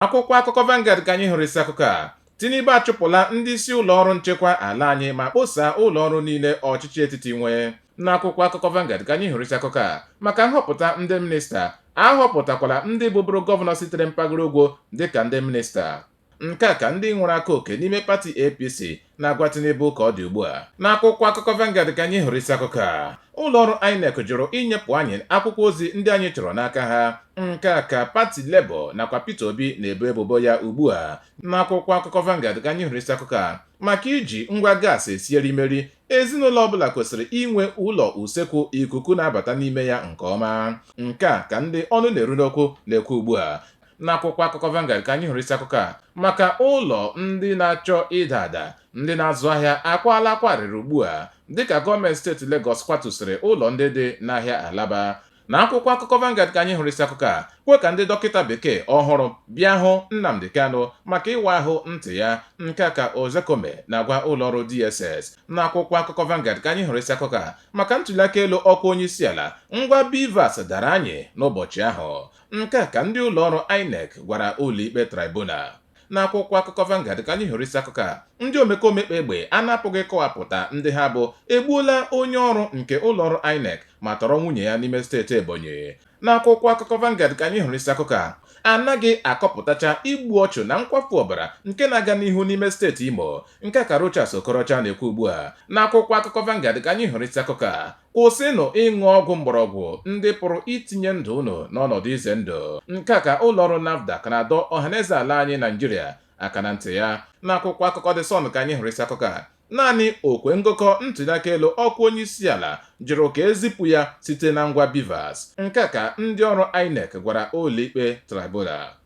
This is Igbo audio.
Akwụkwọ akụkọ Vanguard ka anyị hụrụ isi akụkọ a Tinubu achụpụla ndị isi ụlọ ọrụ nchekwa ala anyị ma kposaa ụlọ ọrụ niile ọchịchị etiti nwe n'akwụkwọ akụkọ Vanguard ka anyị hụrụ isi akụkọ a maka nhọpụta ndị minista a họpụtakwala ndị bụbụrụ gọvanọ sitere mpaghara ugwu dịka ndị minista nke a ka ndị nwere aka oke n'ime pati APC na-agwa Tinubu ka ọ dị ugbu a. N'akwụkwọ akụkọ Vanguard ka anyị hụrụ isi akụkọ a. Ụlọọrụ INEC jụrụ inyepụ anyị akwụkwọ ozi ndị anyị chọrọ n'aka ha. Nke a ka pati Labour nakwa Peter Obi na-ebo ebubo ya ugbu a. N'akwụkwọ akụkọ Vanguard ka anyị hụrụ isi akụkọ a. Maka iji ngwa gaasị esi erimeri, ezinụlọ ọbụla kwesịrị inwe ụlọ usekwu ikuku na-abata n'ime ya nke ọma. Nke a ka ndị ọnụ na-eru n'okwu na-ekwu ugbu a. N'akwụkwọ akụkọ Vanguard ka anyị hụrụ isi akụkọ a maka ụlọ ndị na-achọ ịda ada ndị na-azụ ahịa akwaala akwa arịrị ugbu a dịka gọọmenti steeti Legọs kwatusịrị ụlọ ndị dị n'ahịa Alaba. N'akwụkwọ akụkọ Vanguard ka anyị hụrụ isi akụkọ a kwe ka ndị dọkịta bekee ọhụrụ bịa hụ Nnamdi Kanu maka ịwa ahụ ntị ya, nke a ka Ozekome na-agwa ụlọọrụ DSS. N'akwụkwọ akụkọ Vanguard ka anyị hụrụ isi akụkọ a maka ntuliaka elu ọkwa onyeisiala, ngwa BVAS dara anyị n'ụbọchị ahụ. Nke a ka ndị ụlọọrụ Inec gwara ụlọikpe Tribunal. N'akwụkwọ akụkọ Vanguard ka anyị hụrụ isi akụkọ a, Ndị omekome kpa egbe a na-apụghị ịkọwapụta ndị ha bụ egbuola onye ọrụ nke ụlọọrụ Inec ma tọrọ nwunye ya n'ime steeti Ebonyi. N'akwụkwọ akụkọ Vanguard ka anyị hụrụ isi akụkọ a, A naghị akọpụtacha igbu ọchụ na nkwafu ọbara nke na-aga n'ihu n'ime steeti Imo. Nke a ka Rochas Okorocha na-ekwu ugbua. N'akwụkwọ akụkọ Vanguard ka anyị hụrụ isi akụkọ a, Kwụsịnụ ịṅụ ọgwụ mgbọrọgwụ ndị pụrụ itinye ndụ unu n'ọnọdụ ize ndụ. Nke a ka ụlọọrụ NAFDAC na-adọ ọhaneze ala anyị Naịjirịa aka na ntị ya. N'akwụkwọ akụkọ The Sun ka anyị hụrụ isi akụkọ a. Naanị okwe ngụkọ ntuliaka elu ọkwa onyeisiala jụrụ ka e zipụ ya site na ngwa BVAS. Nke a ka ndị ọrụ INEC gwara ụlọikpe Tribunal.